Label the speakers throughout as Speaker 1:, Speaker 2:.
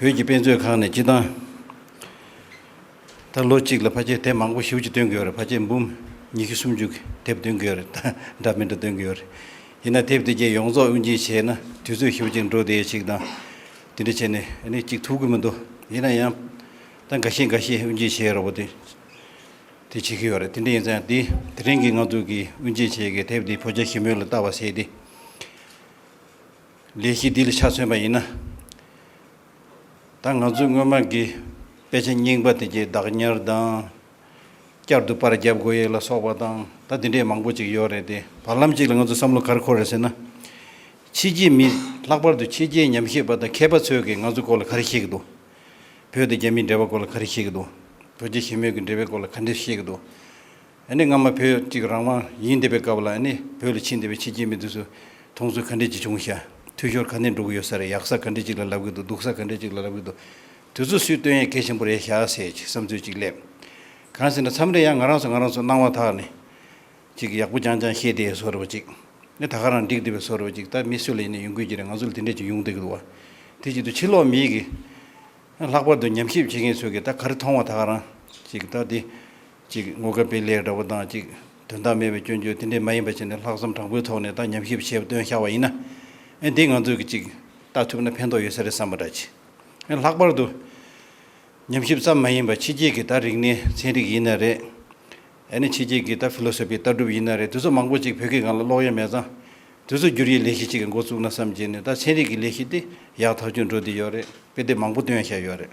Speaker 1: བོད་ཀྱི་དཔེ་མཛོད་ཁང་ནས་སྤྱི་བཏང། ད་ལོ་གཅིག་ལ་ཕ་སྐད་དེབ་མང་པོ་ཞེ་བོ་གཅིག་སྟོན་གྱི་ཡོད་རེད་ཕ་སྐད་འབུམ་ཉི་ཤུ་སུམ་ཅུ་དེབ་སྟོན་གྱི་ཡོད་རེད་ད་འདྲ་མི་འདྲ་སྟོན་གྱི་ཡོད་རེད། ཡིན་ན་དེབ་དེ་བརྒྱད་ཡོངས་རྫོགས་དབྱུན་འབྱིན་བྱས་ན་དུས་ཚོད་ཞེ་བོ་གཅིག་འགྲོ་བསྡད་ཅིག་དང། དེ་འདྲ་བྱས་ནས་ཨ་ནི་གཅིག་ཐུབ་གི་མི་འདུག་ཡིན་ན་ཡང། ད་འགའ་ཤས་འགའ་ཤས་དབྱུན་འབྱིན་བྱེད་རོགས་པ་དེ། དེ་བྱེད་ཀྱི་ཡོད་རེད་དེ་འདྲ་ཡིན་ཙང་དེ་དེ་རིང་གི་ང་ཚོ་གིས་དབྱུན་འབྱིན་བྱེད་ཀྱི་དེབ་དེ་བོད་རྒྱ་ཞི་མོལ་ལ་བལྟ་བ་བྱས་ཏེ། ལས་གཞི་འདི་ལ་ཆ་མཚོན་པ་ཡིན་ན། ད་ང་ཚོས་སྔོན་མ་གི་དཔེ་ཆ་རྙིང་པ་དེ་གྱི་བདག་ཉར་དང། བསྐྱར་དུ་པར་བརྒྱབ་དགོས་ཡས་ལ་སོགས་པ་དང་ད་དེ་འདྲས་མང་པོ་ཅིག་ཡོད་རེད་དེ་བར་ལམ་ཅིག་ལ་ང་ཚོས་བསམ་བློ་གར་འཁོར་རེད་ཟེར་ན། ཕྱི་རྒྱལ་མི་ལྷག་པར་དུ་ཕྱི་རྒྱལ་ཉམས་ཞིབ་པ་དང་མཁས་པ་ཚོས་གིས་ང་ཚོ་སྐོར་ལ་ག་རེ་ཤེས་ཀྱི་འདུག་བོད་དང་རྒྱ་མིའི་འབྲེལ་བ་སྐོར་ལ་ག་རེ་ཤེས་ཀྱི་འདུག་རྡོ་རྗེ་ཞི་མོལ་གྱི་འབྲེལ་བའི་སྐོར་ལ་ག་འདྲེ་ཤེས་ཀྱི་འདུག། ཨ་ནི་སྔ་མ་བོད་གཅིག་རང་དབང་ཡིན་འདི་པའི་སྐབས་ལ་ཨ་ནི་བོད་ལ་ཕྱིན་འདི་པའི་ཕྱི་རྒྱལ་མི་དུས་སུ་དུང་སོ་ག་འདྲས་ཅིག་བྱུང་ཤ་འཐུས་ཤོར་ག་འདྲས་འགྲོ་གི་ཡོད་ས་རེད་ཡག་ས་ག་འདྲས་ཅིག་ལ་ལབ་གི་འདུག་སྡུག་ས་ག་འདྲས་ཅིག་ལ་ལབ་གི་འདུག་དུས་ཚོད་སུས་བཏོན་ཡས་གད་ཆེན་པོ་རེད་ཤ་ཟེར་གྱི་བསམ་ཚུལ་ཅིག་སླེབས། གང་ཟེར་ན་མཚམས་རེ་ཡང་ང་རང་ཚོ་ང་རང་ཚོ་སྣང་བ་དག་ནི། ཅིག་ཡག་པོ་རྐྱང་རྐྱང་བཤད་དེ་བཟོ་རེ་བ་ཅིག་ནི་ད་ག་རང་འགྲིག་འདི་པའི་བཟོ་རེ་བ་ཅིག་ད་མི་སུ་ལ་ཡིན་ན་ཡོང་གི་ཅི་རེད་ང་ཚོ་ལ་དེ་འདྲས་ཅིག་ཡོང་འདོད་གི་འདུག་བ་དེ་ཅིག་ཏུ་ཕྱི་ལོག་མིའི་གིས་ལྷག་པར་དུ་ཉམས་ཞིབ་བྱེད་མཁན་ཚོས་གིས་ད་ག་རེ་མཐོང་བ་ད་ག་རང་ཅིག་ད་དེ་གཅིག་ངོ་དགའ་སྤེལ་ལེགས་འདྲ་བོ་དང་གཅིག་དོན་དག་མེད་པའི་སྐྱོན་བརྗོད་དེ་འདྲས་མ་ཡིན་པ་བྱས་ནས་ལྷག་བསམ་དྲང་པོའི་ཐོག་ནས་དང་ཉམས་ཞིབ་བྱས་བཏོན་ཤར་བ་ཡིན་ན། ཨེ་འདི་ང་ཚོས་གི་གཅིག་ལྟ་ཐུབ་ན་ཕན་ཐོག་ཡོད་ས་རེད་བསམ་པ་འདྲ་གྱིས། ཨེ་ལྷག་པར་དུ། ཉམས་ཞིབ་ཙམ་མ་ཡིན་པར་ཕྱི་རྒྱལ་གི་ད་རིག་གནས་ཚན་རིག་ཡིན་ན་རེད། ཨེ་ནི་ཕྱི་རྒྱལ་གི་ད Philosophy ལྟ་གྲུབ་ཡིན་ན་རེད་དེ་ཚོ་མང་པོ་གཅིག་བོད་སྐད་གང་ལ་ཀློག་ཡ་མེད་ཙང། དེ་ཚོ་བསྒྱུར་ཡའི་ལས་གཞི་གཅིག་གི་འགོ་བཙུགས་ན་བསམ་གྱིས་ནས་ད་ཚན་རིག་གི་ལས་གཞི་དེ་ཡག་ཐག་ཆོད་འགྲོ་བསྡད་ཡོད་རེད་དཔེ་དེབ་མང་པོ་བཏོན་ཤར་ཡོད་རེད།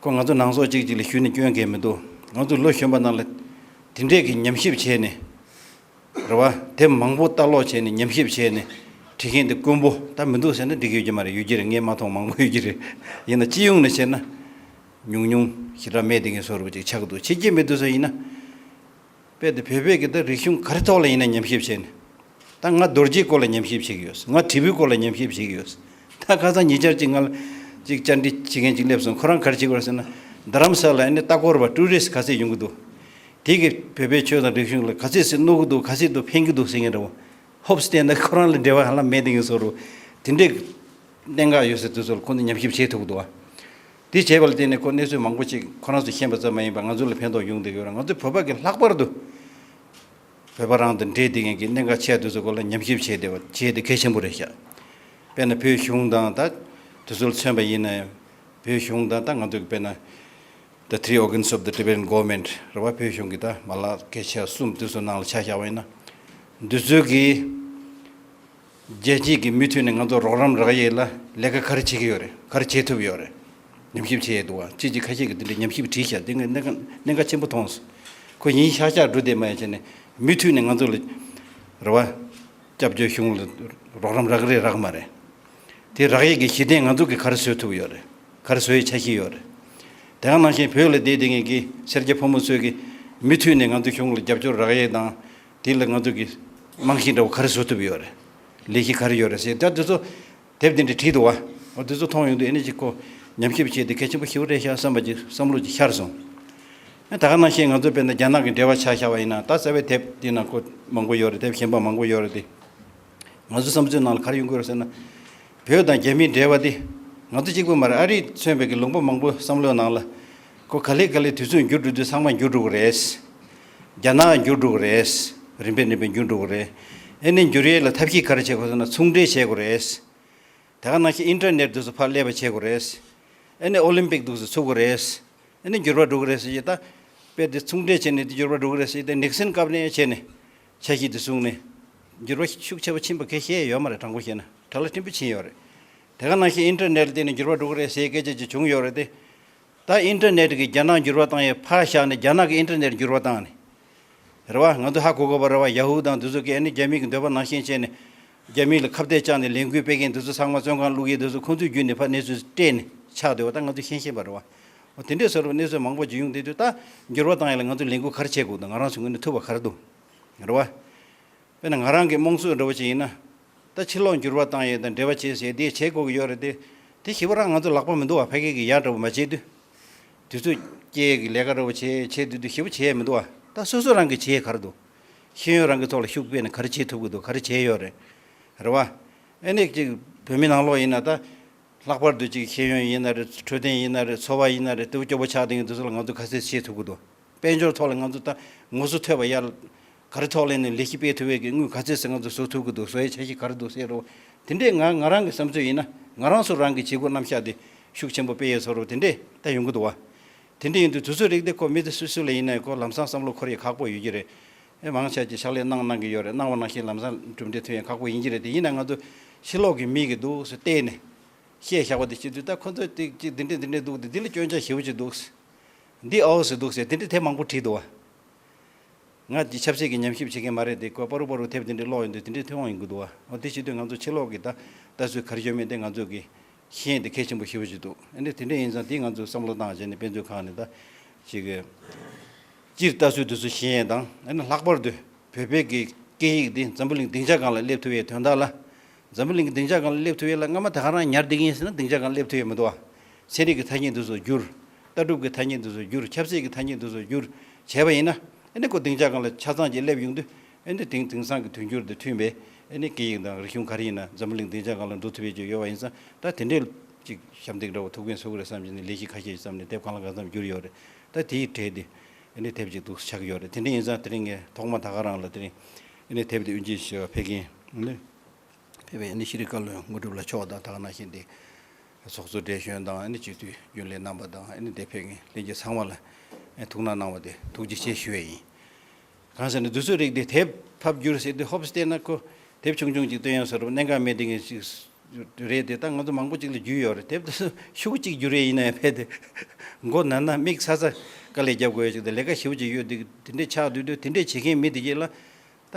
Speaker 1: ཁོས་ང་ཚོ་ནང་སོག་ཅིག་ཅིག་ལ་ཞུས་ནས་སྐྱོན་འགེལ་མི་འདུག་ང་ཚོས་ལོ་གཞོན་པ་རྣམས་ལ་དེ་འདྲས་ཀྱི་ཉམས་ཞིབ་བྱས་ནས། རེ་བ་དེབ་མང་པོ་ལྟ་ཀློག་བྱས་ནས་ཉམས་ཞིབ་བྱས་ནས་བྲིས་མཁན་དེ་དཀོན་པོ་ད་མི་འདུག་ཟེར་ན་འགྲིག་གི་ཡོད་ཀྱི་མ་རེད་ཡོད་ཀྱི་རེད་ངས་མ་མཐོང་མང་པོ་ཡོད་ཀྱི་རེད། ཡིན་ན་སྤྱི་ཡོངས་ནས་བཤད་ན། ཉུང་ཉུང་ཞེ་དྲག་མེད་དེ་ངས་བཟོ་རུ་པ་ཅིག་ཆགས་འདུག་བྱེད་ཀྱི་མེད་འདུག་ཟེར་བ་ཡིན་ན། དཔེ་དེ་བོད་པའི་གི་ད་རིག་གཞུང་ག་རེ་ཐོག་ལ་ཡིན་ན་ཉམས་ཞིབ་བྱས་ནས། ད་ང་རྡོ་རྗེའི་སྐོར་ལ་ཉམས་ཞིབ་བྱེད་གི་ཡོད་སོང་ང་དྲིལ་བུའི་སྐོར་ལ་ཉམས་ཞིབ་བྱེད་གི་ཡོད་སོང་ད་ཁ་སང་ཉེ་ཆར་གཅིག་ང་ལ་གཅིག་བཅར་འདྲི་བྱེད་མཁན་གཅིག་སླེབས་སོང་ཁོ་རང་ག་རེ་བྱེད་དགོས་ར་ཟེར་ན། རྡ་རམ་ས་ལ་ཨ་ནི་ལྟ་སྐོར་བ་ཀྲུའུ་རེ་སི་ག་ཚད་ཡོང་གི་འདུག་དེ་གི་བོད་པའི་ཆོས་དང་རིག་གཞུང་ལ་ག་ཚད་ཟིག་གནོད་གི་འདུག་ག་ཚད་དུ་ཕན་གི་འདུག་ཟེར་མཁན་རེད་བ། ཧོབ་སི་ཏན་ད་ཁོ་རང་ལ་འབྲེལ་བ་ཧ་ལམ་མེད་འདུག་གི་ཟོ་རུ། དེ་འདྲའི་གནད་འགག་ཡོད་སའི་དུས་ཚོད་ལ་ཁོང་ཚོ་ཉམས་ཞིབ་བྱེད་ཐུབ་གི་འདུག་བ། དེ་བྱས་པ་ལ་བརྟེན་ནས་ཁོ་གནས་ཚུལ་མང་པོ་ཅིག་ཁོ་རང་ཚོས་ཤེས་པ་ཙམ་མ་ཡིན་པར་ང་ཚོ་ལ་ཕན་ཐོགས་ཡོང་དུ་ཡོད་རུང་ང་ཚོ་བོད་པ་གིས་ལྷག་པར་དུ་བོད་པ་རང་དང་འབྲེལ་བསྡུས་མཁན་གྱི་གནད་འགག་ཆེ་བ་དེ་ཚོའི་སྐོར་ལ་ཉམས་ཞིབ་བྱས་ཏེ་བྱས་ཏེ་གལ་ཆེན་པོ་རེད་ཤག། དཔེར་ན་བོད་གཞུང་དང་ད། དེ་ཚོ་ལ་མཚོན་པ་ཡིན་ན། བོད་གཞུང་དང་ད་ང་ཚོ་གིས་དཔེར་ན། The Three Organs of the Tibetan Government རེད་བ་བོད་གཞུང་གི་ད་མ་ལག་གལ་ཆེ་བ་གསུམ་དེ་ཚོ་ནང་ལ་ཆ་བཞག་པ་ཡིན་ན། འདི་ཚོས་གིས། རྒྱལ་སྤྱིའི་གི་མུས་མཐུད་ནས་ང་ཚོ་རོགས་རམ་རག་ཡས་ལ་ལས་ཀ་ག་རེ་བྱེད་གི་ཡོད་རེད་ག་རེ་བྱེད་ཐུབ་ཡོད་རེད་ཉམས་ཞིབ་བྱེད་ཡས་འདུག་བ་ཅིག་ཅིག་ཁ་ཤས་ཀྱི་འདི་འདྲའི་ཉམས་ཞིབ་བྲིས་ཤག་འདི་གནད་གནད་འགག་ཆེན་པོ་མཐོང་སོང་ཁོ་ཡིན་ཤག་ཤག་འགྲོ་བསྡད་མ་ཡ་བྱས་ནས་མུས་མཐུད་ནས་ང་ཚོ་ལ་རེ་བ་སྐྱབས་བཅོལ་གཞུང་ལ་རོགས་རམ་རག་གི་རེད་རག་མ་རེད་དེ་རག་ཡས་ཀྱི་གཞི་གདན་ང་ཚོ་གི་ག་རེ་བཟོས་ཐུབ་ཡོད་རེད་ག་རེ་བཟོ་ཡས་ཆ་ཤི་ཡོད་རེད་དེ་ག་ནང་བཞིན་བོད་ལ་བསྡད་བསྡད་ངས་གི་སེར་སྐྱ་ཕོ་མོ་ཚོས་གི་མུས་མཐུད་ནས་ང་ཚོ་གཞུང་ལ་རྒྱབ་སྐྱོར་རག་ཡས་དང་དེ་ལ་ང་ཚོ་གི་རྨང་གཞི་འདྲ་བོ་ག་རེ་བཟོ་ཐུབ་ཡོད་རེད། ལས་གཞི་ག་རེ་ཡོད་རེད་ཟེར་ད་དེ་ཚོ་དེབ་དེ་འདྲ་བྲིས་འདུག་བ། དེ་ཚོ་མཐོང་ཡོང་དུས་ཨེ་ནས་ཅིག་ཁོ་ཉམས་ཞིབ་བྱས་ཏེ་གལ་ཆེན་པོ་ཞིག་རེད་ཤག་བསམ་པ་ཅིག་བསམ་བློ་ཅིག་ཤར་སོང། ད་ག་ནང་བཤད་ང་ཚོ་དཔེར་ན་རྒྱ་ནག་གི་འགྲེལ་བ་ཆགས་ཤག་བ་ཡིན་ན་ད་གསལ་བའི་དེབ་དེ་ནང་ཁོ་མང་པོ་ཡོད་རེད་དེབ་གཞན་པ་མང་པོ་ཡོད་རེད་དེ། ང་ཚོའི་བསམ་ཚུལ་ནང་ལ་ག་རེ་ཡོང་དགོས་རེད་ཟེར་ན། བོད་དང་རྒྱ་མིའི་འབྲེལ་བ་དེ་ང་ཚོ་གཅིག་པུ་མ་རེད་ཨ་རིས་མཚོན་པའི་གི་ལུང་པ་མང་པོ་བསམ་བློའི་ནང་ལ། ཁོ་ག་ལེ་ག་ལེ་དུས་ཚོད་འགྱུར་འགྲོ་དུས་ཚང་མ་འགྱུར་འགྲོ་གི་རེད། རྒྱ་ནག་འགྱུར་འགྲོ་གི་རེད། རིམ་པས་རིམ་པས་འགྱུར་འགྲོ་གི་རེད། ཨེ་ནས་འགྱུར་ཡས་ལ་ཐབས་ཤེས་ག་རེ་བྱེད་དགོས་ཟེར་ན་ཚུང་འབྲེལ་བྱེད་དགོས་རེད། དེ་ག་ནང་བཞིན་ཨིན་ཏྲ་ནེར་དུས་སུ་ཕར་སླེབས་པ་བྱེད་དགོས་རེད། ཨེ་ནས་ཨོ་ལིམ་པིག་དུས་སུ་ཚུགས་དགོས་རེད། ཨེ་ནས་འགྱུར་བ་འགྲོ་གི་རེད་ཟེར་གྱི་ད། དཔེར་དེ་ཚུང་འབྲེལ་བྱེད་ནས་དེ་འགྱུར་བ་འགྲོ་གི་རེད་ཟེར་གྱི་ད་ནིག་སིན་སྐབས་ནས་བྱས་ནས། ཆ་ཤིག་དེ་བཟུང་ནས། འགྱུར་བ་ཤུགས་ཆེ་བ་ཕྱིན་པ་ཁས་ཤེས་ཡོད་མ་རེད་དྲང་པོ་བཤད་ན་དྲག་ལ་སྤྲིན་པོ་ཕྱིན་ཡོད་རེད། དེ་ག་ནང་བཞིན་ཨིན་ཏྲ་ནེར་ལྟེ་ནས་འགྱུར་བ་འགྲོ་གི་རེད་ཟེར་སྐད་ཆ་ཅིག་བྱུང་ཡོད་རེད་དེ། ད་ཨིན་ཏེར་ནེཏ་གིས་རྒྱ་ནག་འགྱུར་བ་བཏང་ཡས་ཕར་བཞག་ནས་རྒྱ་ནག་གིས་ཨིན་ཏེར་ནེཏ་འགྱུར་བ་བཏང་ནས། རེད་བ། ང་ཚོ་ཧ་གོ་དགོས་པ་རེད་བ Yahoo དང་དུས་ཚོད་ཀྱི་ཨ་ནི་རྒྱ་མི་གི་འདོད་པ་ནང་བཞིན་བྱས་ནས། རྒྱ་མི་ལ་ཁ་བརྡས་བཅག་ནས་ལས་འགུལ་སྤེལ་མཁན་དུས་ཚོད་ཚང་མ་བཙོན་ཁང་བླུག་ཡས་དུས་ཚོད་ཁོང་ཚོའི་བརྒྱུད་ནས་ཕར་གནས་ཚུལ་སྤྲད་ནས་ཆགས་འདོད་བ་ད་ང་ཚོ་ཤེས་བཞིན་པ་རེད་བ། འོ་དེ་འདྲས་སོ་རེད་བ་གནས་ཚུལ་མང་པོ་བརྗོད་ཡོང་དེ་དུས་ད་འགྱུར་བ་བཏང་ཡས་ལ་ང་ཚོ་ལས་འགུལ་ག་རེ་བྱེད་དགོས་དུ་ང་རང་ཚོའི་ངོས་ནས་ཐུབ་བ་ག་རེ་འདུག་རེད་བ། དཔེར་ན་ང་རང་གི་རྨོངས་ཚོད་འདྲ་བོ་ཅིག་ཡིན་ན། ད་ཕྱིར་ལོག་འགྱུར་བ་བཏང་ཡོད་དང་འབྲེལ་བ་བྱས་ཞེས་དེས་བྱེད་དགོས་ཀྱི་ཡོད་རེད་དེ། དེ་བྱེད་པོ་རང་ང་ཚོ་ལག་པ་མི་འདུག་བ་ཕ་སྐད་ཀྱི་ཡག་འདྲ་བོ་མ་བྱས་དུས། དུས་ཚོད་སྐྱེལ་ཡས་ཀྱི་ལས་ཀ་འདྲ་བོ་བྱས་བྱས་དུས་དུས་བྱེད་པོ་བྱས་ཡས་མི་འདུག་བ་ད་སོ་སོ་རང་གིས་བྱེད་ཡས་ག་རེ་འདུག། ཤེས་ཡོན་རང་གི་ཐོག་ལ་ཤུགས་སྤེལ་ནས་ག་རེ་བྱེད་ཐུབ་ཀྱི་འདུག་ག་རེ་བྱས་ཡོད་རེད། རེད་བ། ཨེ་ནས་ཅིག་བོད་མི་ནང་ལོག་ཡིན་ན་ད། ལྷག་པར་དུ་ཅིག་ཤེས་ཡོན་ཡིན་ན་རེད་འཕྲོད་བསྟེན་ཡིན་ན་རེད་འཚོ་བ་ཡིན་ན་རེད་དེ་བོ་སྐྱོ་བོ་ཆགས་ལྡིང་གི་འདུག་ཚུལ་ལ་ང་ཚོ་ག་ཚད་བྱེད་ཐུབ་ཀྱི་འདུག། དཔལ་འབྱོར་ཐོག་ལ་ང་ཚོ་ད་ངོ་སོ་ཐོས་པ་ཡར། ག་རེ་ཐོག་ལས་ནས་ལས་ཤིག་སྤེལ་ཐུབ་བས་ཀྱི་དངུལ་ག་ཚོད་ཟེར་ང་ཚོ་བཟོ་ཐུབ་ཀྱི་འདུག་བཟོ་ཡའི་ཆ་ཤས་ག་རེ་འདུག་ཟེར་རོ། དེ་འདྲས་ང་ང་རང་གི་བསམ་ཚོད་ཡིན་ན་ང་རང་སུ་རང་གི་བྱེད་སྒོ་རྣམ་གཞག་དེ་ཤུགས་ཆེན་པོ་སྤེལ་ཡས་ཚོར་རོ་དེ་འདྲས་ད་ཡོང་གི་འདུག་བ། དེ་འདྲས་ཡིན་དུས་དུས་ཚོད་རིག་དེ་ཁོ་མི་དེ་སུ་སུ་ལས་ཡིན་ནའི་སྐོར་ལམ་སང་བསམ་བློ་འཁོར་ཡས་ཁག་པོ་ཡོད་ཀྱི་རེད། མང་ཆ་ཀྱི་ཕྱག་ལས་གནང་གནང་གི་ཡོད་རེད་གནང་བ་ནང་བཞིན་ལམ་སང་གྲུབ་འབྲས་ཐོན་ཡས་ཁག་པོ་ཡིན་གྱི་རེད་དེ་ཡིན་ན་ང་ཚོ་ཕྱི་ལོག་གི་མིག་གི་འདུག་ཟེར་བལྟས་ནས། བཤད་བཞག་པ་དེ་བྱེད་དུས་ད་ཁོ་ཚོས་དེ་གཅིག་དེ་འདྲས་དེ་འདྲས་འདུག་དེ་འདི་ལ་སྐྱོན་ཆ་ཞེ་བོ་ཅིག་འདུག། འདི་ཨའོ་ཟེར་འདུག་ཟེར་དེ་འདྲའི་དེབ་མང་པོ་བྲིས་འདུག་ཨ། ང་འདི་ཆབ་སྲིད་ཀྱི་ཉམས་ཞིབ་བྱེད་མཁན་མ་རེད་དེ་ཀོས་པ་རུ་པ་རུ་དེབ་དེ་འདྲའི་ཀློག་ཡོང་དུས་དེ་འདྲའི་མཐུན་དབང་ཡིན་དགོས་འདུག་ཨ། འོ་དེ་བྱེད་དུས་ང་ཚོ་ཕྱི་ལོག་གི་ད་ལྟ་ཚུལ་ག་རེ་བྱོས་མིན་དེ་ང་ཚོས་གི་ཤེས་ཡིན་དེ་གལ་ཆེན་པོ་ཞེ་བོ་ཞིག་འདུག་ཨ་འདི་དེ་འདྲ་ཡིན་ཙང་དེ་ང་ཚོས་བསམ་བློ་བཏང་བྱས་ནས་དཔེ་མཛོད་ཁང་ནས་ད་ཅིག་གི་སྤྱིར་ལྟ་ཚུལ་དེ་ཚོ་ཤེས་ཡན་དང་ཨ་ནི་ལྷག་པར་དུ་བོད་པའི་གི་སྐད་ཡིག་འདི་འཛམ་བུ་གླིང་སྡིངས་ཆ་གང་ལ་སླེབས་ཐུབ་ཡའི་དོན་དག་ལ། འཛམ་བུ་གླིང་གི་སྡིངས་ཆ་གང་ལ་སླེབས་ཐུབ་ཡའི་ལ་སྔ་མ་དེ་ག་རང་ཉར་བསྡད་ཀྱིན་ཡིན་ཟེར་ན་སྡིངས་ཆ་གང་ལ་སླེབས་ཐུབ་ཡའི་མི་འདུག་ཨ། ཚན་རིག་གི་ཐ་སྙད་འདི་ཚོ་བསྒྱུར། ལྟ་གྲུབ་ཀྱི་ཐ་སྙད་འདི་ཚོར་བསྒྱུར་ཁྱབ་ཚད་ཀྱི་ཐ་སྙད་འདི་ཚོར་བསྒྱུར་བྱས་པ་ཡིན་ན། སྒོ་དེང་ཆ་གང་ལ་ཆ་ཚང་ཅིག་སླེབས་ཡོང་དུས། དེང་དེང་སང་གི་དུས་འགྱུར་དང་མཐུན་པའི་སྐད་ཡིག་དང་རིག་གཞུང་ག་རེ་ཡིན་ན་འཛམ་བུ་གླིང་དེང་ཆ་གང་ལ་འགྲོ་ཐུབ་ཡས་ཀྱི་ཡོད་པ་ཡིན་ཙང་ད་དེ་འདྲའི་ཅིག་ཞབས་འདེགས་འདྲ་བོ་ཐུག་ཕན་སོ་གི་རེད་བསམ་གྱི་ནས་ལས་གཞི་ཁ་ཤས་ཀྱི་བརྩམས་ནས་དེབ་གང་ལ་གང་བརྩམས་བསྒྱུར་ཡོད་རེད་ད་དེའི་གྲས་དེ། དེབ་ཅིག་ཏུ་ཆགས་ཀྱི་ཡོད་རེད་དེ་འདྲ་ཡིན་ཙང་དེ་རིང་ངས་ཐོག་མ་ད་ག་རང་ལ་དེ་རིང་དེབ་དེ་དབྱིན་ཇིའི་ཞེས་པ་ཕེབས་ཀྱིན། ཕེབས་པའི་ཤེས་རིག་བཀའ་བློན་དངོས་གྲུབ་ལ་མཆོག་དང་དག་སྣང་ཞིག་འདི། ཚོགས་གཙོ་བགྲེས་གཞོན་དང་སྤྱི་འཐུས་རྒྱུན་ལས་རྣམ་པ་དང་འདས་འཕེན་གྱི་བླན་རྒྱལ་ཚང་མ་ལ་ཐུགས་སྣང་གནང་བ་དེ་ཐུགས་རྗེ་ཆེ་ཞུ་བས་ཡིན། གང་ཟེར་ན་དུས་ཚོད་རིགས་དེ་དེབ་ཕབ་རྒྱུར་ཟེར་དུས་ཧོབ་སི་བལྟས་ན་ཁོ་དེབ་ཆུང་ཆུང་ཅིག་བཏོན་ཡོང་ཟེར་རོ་གནད་འགག་མེད་དེ་ངས་ཅིག་རེད་དེ་ད་ང་ཚོ་མང་པོ་ཅིག་ལ་རྒྱུས་ཡོད་རེད་དེབ་དེ་ཚོ་ཤུགས་གཅིག་རྒྱུ་རེ་ཡིན་ན་ཡང་ཕལ་ཏེ་མགོ་ན་ན་དམིགས་ཚ་ཚ་དཀའ་ལས་རྒྱབ་དགོས་ཡོད་ཅིག་དང་ལས་ཀ་ཞིབ་ཅིག་ཡོད་དེ་དེ་འདྲས་ཆགས་དུས་དུས་དེ་འདྲས་བྱེད་མཁན་མི་དེ་གཅིག་ལ་ད་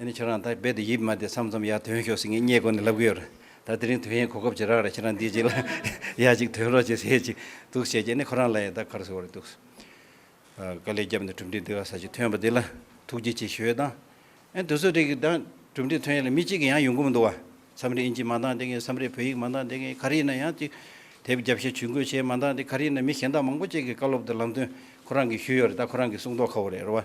Speaker 1: ཨ་ནི་ཁྱོད་རང་ད་རྦད་དུ་ཡིད་མ་བདེ་བསམ་བསམ་ཡར་དོན་ཤོག་ཟེར་ངས་སྙད་གོ་ནས་ལབ་གི་ཡོད་རེད་ད་དེ་རིང་དོན་ཡིན་གོ་སྐབས་ཇི་རག་རེད་ཁྱེད་རང་འདི་གཅིག་ལ་ཡ་གཅིག་དོན་རོགས་བྱེད་ཟེར་གཅིག་འདུག་བྱས་རྗེས་ནས་ཁོ་རང་ལ་ཡང་ད་གར་ཟེར་བ་རེད་འདུག་དཀའ་ལས་བརྒྱབ་ནས་གྲུབ་འབྲས་འདི་ག་ས་ཞིག་ཐོན་པ་འདི་ལ་ཐུགས་རྗེ་ཆེ་ཞུས་དང། ཨེ་དུས་ཚོད་རེག་གི་གྲུབ་འབྲས་ཐོན་ཡ་ལ་མི་གཅིག་གི་ཡང་ཡོང་གི་མི་འདུག་བ་མཚམས་རེ་ཨིན་ཇི་མ་འདང་དེ་ངས་མཚམས་རེ་བོད་ཡིག་མ་འདང་དེ་ངས་གར་ཡིན་ན་ཡང་གཅིག་དེབ་བརྒྱབ་བཤད་ཇུས་འགོད་བྱས་མ་འདང་དེ་གར་ཡིན་ན་མི་གཞན་དག་མང་པོ་བཅས་ཀྱི་བཀའ་སློབ་དེ་ལམ་སྟོན་ཁོ་རང་གིས་ཞུས་ཡོད་རེད་ད་ཁོ་རང་གིས་གསུང་མདོག་ཁ་བོ་རེད་རེད་བ།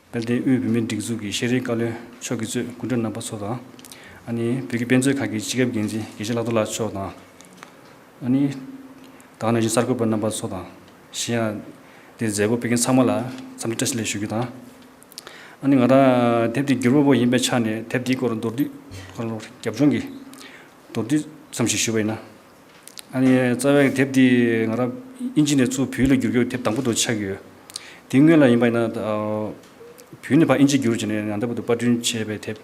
Speaker 2: དཔལ་ལྡན་དབུས་བོད་མིའི་སྒྲིག་འཛུགས་ཀྱི་ཤེས་རིག་བཀའ་བློན་མཆོག་གི་གཙོས་སྐུ་མགྲོན་རྣམ་པ་ཚོ་དང། ནི་བོད་ཀྱི་དཔེ་མཛོད་ཁང་གི་སྤྱི་ཁྱབ་འགན་འཛིན་དགེ་བཤེས་ལྷག་རྡོར་ལགས་མཆོག་དང། ནི། དང་ནང་བཞིན་གསར་འགོད་པ་རྣམ་པ་ཚོ་དང། གཞན་ཡང། འདིར་མཛད་སྒོ་སྤེལ་མཁན་ཚང་མ་ལ་འཚམས་འདྲི་བཀྲ་ཤིས་ལན་ཞུ་རྒྱུ་དང། ནི་ང་རང་དེབ་དེའི་སྒྱུར་བ་པོ་ཡིན་པའི་ཆ་ནས་དེབ་དེའི་སྐོར་མདོར་བསྡུས། རྒྱབ་ལྗོངས་ཀྱི། མདོར་བསྡུས་ཙམ་ཞིག་ཞུ་བ་ཡིན་ན། རྩ་བའི་དེབ་འདི་ང་རང་དབྱིན་ཇི་ནས་གཙོས་བོད་ཡིག་ལ་བསྒྱུར་རྒྱུ་དེབ་དང་པོ་དུ་ཆགས་ཡོད། དེ་སྔོན་ལ་ཡིན་པ་ཡིན་ན། བོད་ནས་ཕར་དབྱིན་ཇི་བསྒྱུར་བྱས་ནས་ཡང་དག་པར་དུ་པར་སྐྲུན་བྱས་པའི་དེབ་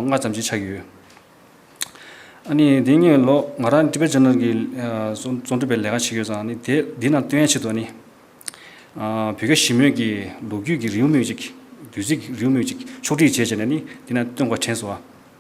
Speaker 2: ལྔ་ཙམ་ཅིག་ཆགས་ཡོད། འདི་སྔོན་ལོ་ང་རང Tibet Journal གྱི་རྩོམ་སྒྲིག་པའི་ལས་ཀ་བྱས་ཡོད་ཙང་དེབ་འདི་རྣམས་བཏོན་ཡ་བྱེད་དོན་ནི། བོད་སྐད་ཞིབ་མོས་ཀྱི་ལོ་རྒྱུས་ཀྱི་རེའུ་མིག་ཅིག་བདུད་རྩིའི་རེའུ་མིག་ཅིག་ཕྱོགས་བསྒྲིགས་བྱས་བྱས་ནས་ནི་འདི་རྣམས་བཏོན་དགོས་དྲན་སོང།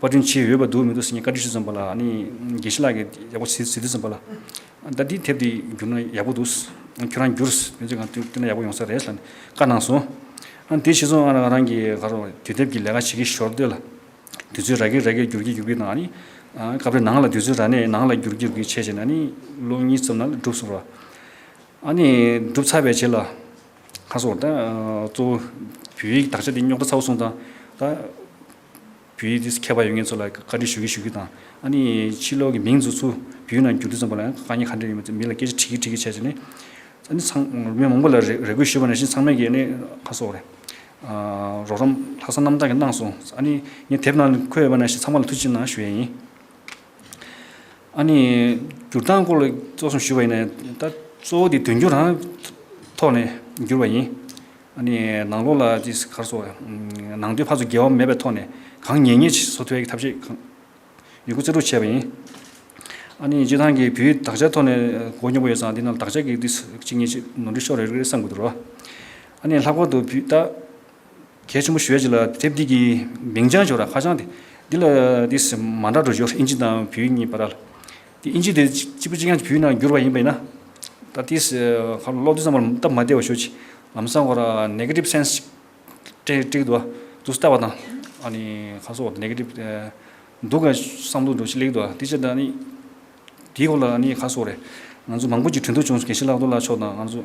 Speaker 2: པར་སྐྲུན་བྱས་འོས་པ་འདུག་མི་འདུག་ཟེར་མཁན་བཀའ་དྲིན་ཆེ་ཙམ་པ་ལ་ནི་དགེ་བཤེས་ལགས་ཀྱིས་ཡག་པོ་ཟེར་དུས་ཙམ་པ་ལ། ད་འདི་དེབ་དེ་བསྒྱུར་ན་ཡག་པོ་འདུག་ཁྱོད་རང་བསྒྱུར་ཡོད་ཚད་གང་བསྟུན་ན་ཡག་པོ་ཡོང་ས་རེད་ལ་ནི་བཀའ་གནང་སོང། དེ་ཕྱིས་སུ་རང་གིས་ག་རེ་དུས་དེབ་ཀྱི་ལས་ཀ་བྱེད་ཀྱི་ཞོར་དུ་ལ། དུས་ཚོད་རག་གི་རག་གི་བསྒྱུར་གྱི་བསྒྱུར་གི་དང་ནི། སྐབས་རེ་ནང་ལ་དུས་ཚོད་རག་ནས་ནང་ལ་བསྒྱུར་གྱི་བསྒྱུར་གྱི་བྱས་བྱས་ན་ནི་ལོ་གཉིས་ཙམ་ནང་ལ་འགྲུབ་སོང་བ། ནི་འགྲུབ་ཚར་བའི་རྗེས་ལ། ཁ་སང་བར་ད་གཙོ་བོ་བོད་ཡིག་དག་ཆ་དེ་རྙོག་དྲ་ཚ་བོ་སོང་ཙང་ད། བོད་ཡིག་འདི་མཁས་པ་ཡོད་ངེས་ཚོ་ལ་བཀའ་དྲིན་ཞུ་གི་ཞུ་གི་དང། ཨ་ནི་ཕྱི་ལོག་གི་མིང་ཚུགས་ཚུལ་བོད་ཡིག་ནང་བསྒྱུར་དུས་ཙམ་པ་ལ་ཡང་དཀའ་ཉེ་ཁ་འདྲེ་ཡོད་མོད་མི་ལ་སྐད་ཆ་དྲིས་ཀི་དྲིས་ཀི་བྱས་ཚེ་ནི། ཨ་ནི་ཚང་མི་མང་པོ་ལ་རེ་སྐུལ་ཞུས་པ་ནས་བཞིན་ཚང་མས་ཀྱི་ཨ་ནི་ཁ་སོགས་རེད། རོགས་རམ་ལྷག་བསམ་རྣམ་དག་གི་གནང་སོང་ཨ་ནི་ངས་དེབ་ནང་ལ་འཁོད་ཡོད་པ་ནས་བཞིན་ཚང་མ་ལ་ཐུགས་ཆེ་གནང་ཞུ་ཡས་ཡིན། ཨ་ནི་སྒྱུར་སྟངས་སྐོར་ལ་གཙོ་བཟུང་ཞུས་པ་ཡིན་ན་ད་གཙོ་བོ་དེ་དོན་འཁྱོལ་རང་ཐོག་ནས་བསྒྱུར་བ་ཡིན། ཨ་ནི་ནང་ལོགས་ལ་ཅི་གར་སོགས་ནང་དོན་ཕར་ཚུར་འགལ་བ་མེད་པའི་ཐོག་ནས་གང་ཉན་ཉན་བཟོ་ཐུབ་པའི་ཐབས་ཤེས་གང་ཡོད་རྒྱུ་རྩལ་སྤྲུགས་བྱས་པ་ཡིན། ཨ་ནི་སྤྱི་བཏང་གི་བུའི་དག་ཆའི་ཐོག་ནས་གོ་མྱོང་པོ་ཡོད་ཙང་འདི་རྣམས་དག་ཆ་གི་དུས་སུ་གཅིག་གཉིས་ནོར་འཁྲུལ་ཤོར་རེ་རེ་བསམ་དགོས་འདུག་རོ། ཨ་ནི་ལྷག་པར་དུ་བུས་ད། གལ་ཆེན་པོ་ཞུ་བྱེད་ལ་དེབ་འདི་གི་མིང་བྱང་བྱོ་ར་ཧ་ཅང་དེ་འདི་ལ་དེ་སི་མ་འདྲ་འགྲོ་བྱོར་ཨིན་ཇི་དང་བུའི་གཉིས་པ་ར་ལ་དེ་ཨིན་ཇི་དེ་གཅིག་པུ་གཅིག་ཡང་བུའི་ནང་འགྱུར་བ་ཡིན་པ་ཡིན་ན་ད་དེ་སི་ཧ་ལོ་ལོག་དུས་ཚང་མར་སྟབས་མ་བདེ་བ་ཞོ་ཅིག་ལམ་སང་བ་ར Negative Sense ཅིག་སྤྲེ་སྤྲེ་གི་འདུག་ཨ་དུ་སི་ལྟ་བ་དང་ཨ་ནི་ཁ་སོ་བ་ར Negative འདུག་ག་སང་འདུག་འགྲོ་ཅིག་ལེགས་འདུག་ཨ་དེ་ཅི་ད་ནི་དེའི་སྐོར་ལ་ཨ་ནི་ཁ་སོ་བ་ར་ང་ཚོ་མང་པོ་ཅིག་གྲོས་འདུག་བྱུང་སོང་གལ་ཆེ་ལགས་འདུག་ལ་ཆོག་དང་ཨ་ཚོ།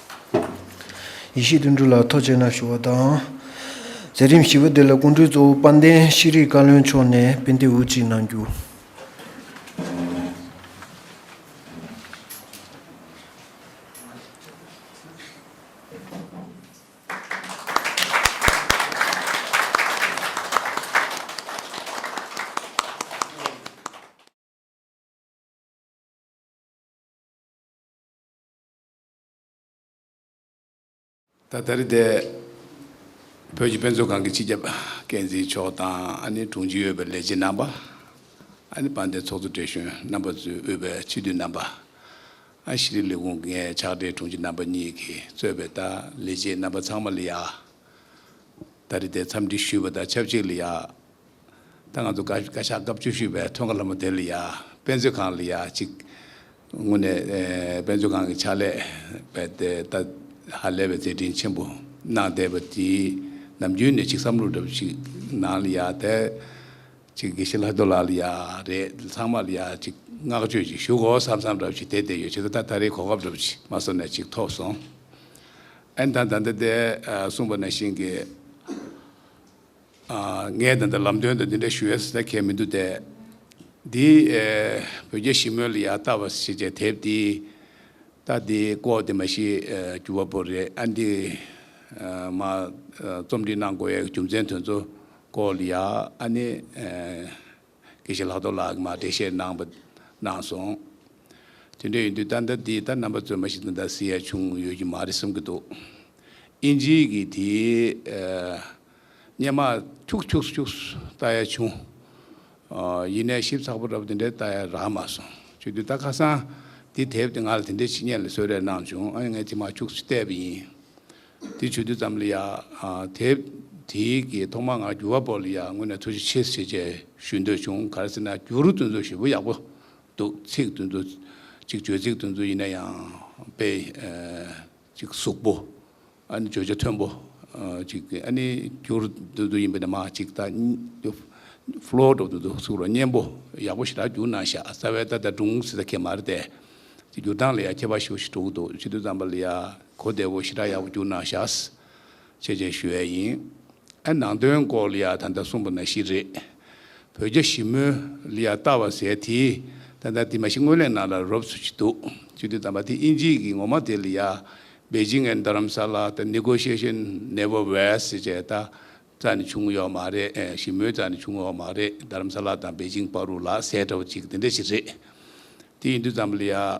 Speaker 3: ཡེ་ཤེས་དུང་འབྲུ་ལ་ཐོ་བཅས་ན་ཞུ་བ་དང། མཛད་རིམ་བཞི་པོ་འདི་ལ་སྐུ་མགྲོན་གཙོ་བོ་དཔལ་ལྡན་ཤེས་རིག་བཀའ་བློན་མཆོག་ནས་དཔེ་འདེབས་འུར་ཅིག་གནང་རྒྱུ།
Speaker 4: ད་ལྟ་རི་སྡེ་བོད་ཀྱི་དཔེ་མཛོད་ཁང་གི་སྤྱི་ཁྱབ་འགན་འཛིན་མཆོག་དང་ཨ་ནེ་དྲུང་ཆེ་ཡོད་པའི་ལས་བྱེད་རྣམ་པ། ཨ་ནེ་དཔལ་ལྡན་ཚོགས་གཙོ་བགྲེས་གཞོན་རྣམ་པ་གཙོས་དབུས་པའི་སྤྱི་འཐུས་རྣམ་པ། ཨ་ཤི་རི་ལས་ཁུངས་ཀྱི་ངའི་ཕྱག་སྦྲེལ་དྲུང་ཆེ་རྣམ་པ་གཉིས་ཀྱིས་གཙོས་པའི་ད་ལས་བྱེད་རྣམ་པ་ཚང་མ་ལ་ཡང། ད་རི་སྡེའི་འཚམས་འདྲི་ཞུས་པ་དང་ཆབས་ཅིག་ལ་ཡང། ད་ང་ཚོ་བཀའ་ཤག་སྐབས་བཅུ་བཞི་པའི་ཐོན་ཁ་ལྷ་མོ་དེ་ལ་ཡང་དཔེ་མཛོད་ཁང་ལ་ཡང་གཅིག་དངོས་ནས་དཔེ་མཛོད་ཁང་གི་ཕྱག་ལས་པའི་ལྟེ་བར་ཧ་ལས་པའི་མཛད་འཕྲིན་ཆེན་པོ་གནང་བསྡད་པ་དེའི་ནམ་རྒྱུན་ནས་གཅིག་བསམ་བློ་འདྲ་པོ་ཞིག་ནང་ལ་ཡང་དེ་གཅིག་དགེ་བཤེས་ལྷ་རྡོ་ལགས་ལ་ཡང་རེད་ཚང་མ་ལ་ཡང་གཅིག་བསྔགས་བརྗོད་ཅིག་ཞུ་གོ་བསམ་བསམ་འདྲ་པོ་ཞིག་དེ་བསྡད་ཡོད་ཕྱི་ཟླ་ད་ད་རེའི་གོ་སྐབས་འདྲ་པོ་ཞིག་མ་སོང་ནས་གཅིག་ཐོབ་སོང། ཨན་དང་ད་ལྟ་དེ་གསུངས་པ་ནང་བཞིན་གྱི། ངས་ད་ལྟ་ལམ་སྟོན་དུ་འདི་འདྲ་ཞུ་ཡས་ཟེར་ད་གལ་མི་འདུག་སྟེ། འདི་བོད་རྒྱ་ཞི་མོལ་ལ་ཡ་ལྟ་བ་ཞེས་བྱའི་དེབ་འདི་ལྟ་དེ་ཀོ་དེ་མ་ཤི་གྱུར་བ་པོ་རེད་ཨ་འདི་མ་རྩོམ་སྒྲིག་གནང་དགོས་ཡས་རྒྱུ་མཚན་དོན་ཚོ་ཀོ་ལ་ཡ་ཨ་ནི་དགེ་བཤེས་ལྷག་རྡོར་ལགས་ཀྱི་མ་འགྲེལ་བཤད་གནང་བ་གནང་སོང། དེ་འདྲ་ཡིན་དུས་ད་ལྟ་འདི་ལྟ་རྣམ་པ་རྩོད་མ་ཞིག་ད་ཟེར་ཡས་བྱུང་ཡོད་ཀྱི་མ་རེད་བསམ་གྱི་འདུག་ཨིན་ཇིའི་གི་དེའི། སྙེ་མ་ཁྱུག་ཁྱུག་སུ་ཁྱུག་སུ་ལྟ་ཡ་བྱུང། ཡིན་ནས་ཞིབ་ཚགས་པོ་རབ་དེ་འདྲའི་ལྟ་ཡ་རག་མ་སོང། ཁྱོད་དུས་ད་ཁ་སང་འདི་དེབ་དེ་ང་ལ་དེ་འདྲའི་ཕྱི་ཉེས་ལ་གསོལ་རས་གནང་བྱུང་ཨ་ཡ་ངས་དེ་མ་ཁྱུག་ཆུ་བལྟས་པ་ཡིན། དེ་ཆུ་དུས་ཙམ་ལ་ཡ། དེབ་དེ་གི་ཐོག་མ་ང་འགྱུར་བ་པོ་ལ་ཡ་དངོས་ནས་འཚོལ་ཞིབ་ཆེ་ཆེ་བྱས་ཞུས་འདོད་བྱུང་ག་རེ་ཟེར་ན་འགྱུར་བསྟུན་ཚུལ་ཞེ་པོ་ཡག་པོ་འདུག་ཚིག་བསྟུན་ཚུལ་གཅིག་བརྗོད་ཚིག་བསྟུན་ཚུལ་ཡིན་ན་ཡང་དཔེ། ཅིག་གཟུགས་པོ། ཨ་ནི་བརྗོད་བྱ་མཐོན་པོ། ཅིག་གིས་ཨ་ནི་གུར། དུ་དུ་ཡིན་པས་ན་མ་ཅིག་ད། Floor། དུ་དུ་དུ་གཟུགས་རོ་གཉན་པོ། ཡག་པོ་ཞེ་དྲག་འགྱུར་ན་བཞག་རྩ་བའི་རྟགས་ད་དུང་སྲིད་ད་ཁྱད་མར་ཏེ། ཅིག་འགྱུར་སྟངས་ལ་ཡང་ཁྱད་པར་ཞུ་ཞེ་དྲུག་དུ་ཕྱི་དོན་ཙམ་པ་ལ་ཡང་གོ་བདེ་བོ་ཞེ་དྲག་ཡག་པོ་འགྱུར་ན་བཞག། བྱས་རྗེས་ཞུ་ཡས་ཡིན། ཨ་ནང་དོན་སྐོར་ལི་ཡ་ད་ལྟ་གསུངས་པ་ན་ཤི་རེད། བོད་རྒྱ་ཞི་མོལ་ལི་ཡ་ལྟ་བ་ཟས་དེའི་ད་ལྟ་དེ་མ་ཤི་སྔོན་ལས་ནང་ལ་རོབ་ཚུ་ཅི་འདུག་ཅི་འདུག་དམ་པ་དེ་ཨིན་ཇིའི་གི་ངོ་མ་དེ་ལི་ཡ་བེ་ཇིང་ཨན་རྡ་རམ་ས་ལ་ད Negotiation never was ཅེས་ད་རྩ་ནས་བྱུང་ཡོག་མ་རེད་ཞི་མོལ་རྩ་ནས་བྱུང་ཡོག་མ་རེད་རྡ་རམ་ས་ལ་དང་བེ་ཇིང་པ་རུ་ལ་ཟས་འདྲ་བོ་ཅིག་དེ་འདྲ་ཞིག་རེད་དེ་ཡིན་དུས་ཙམ་ལི་ཡ།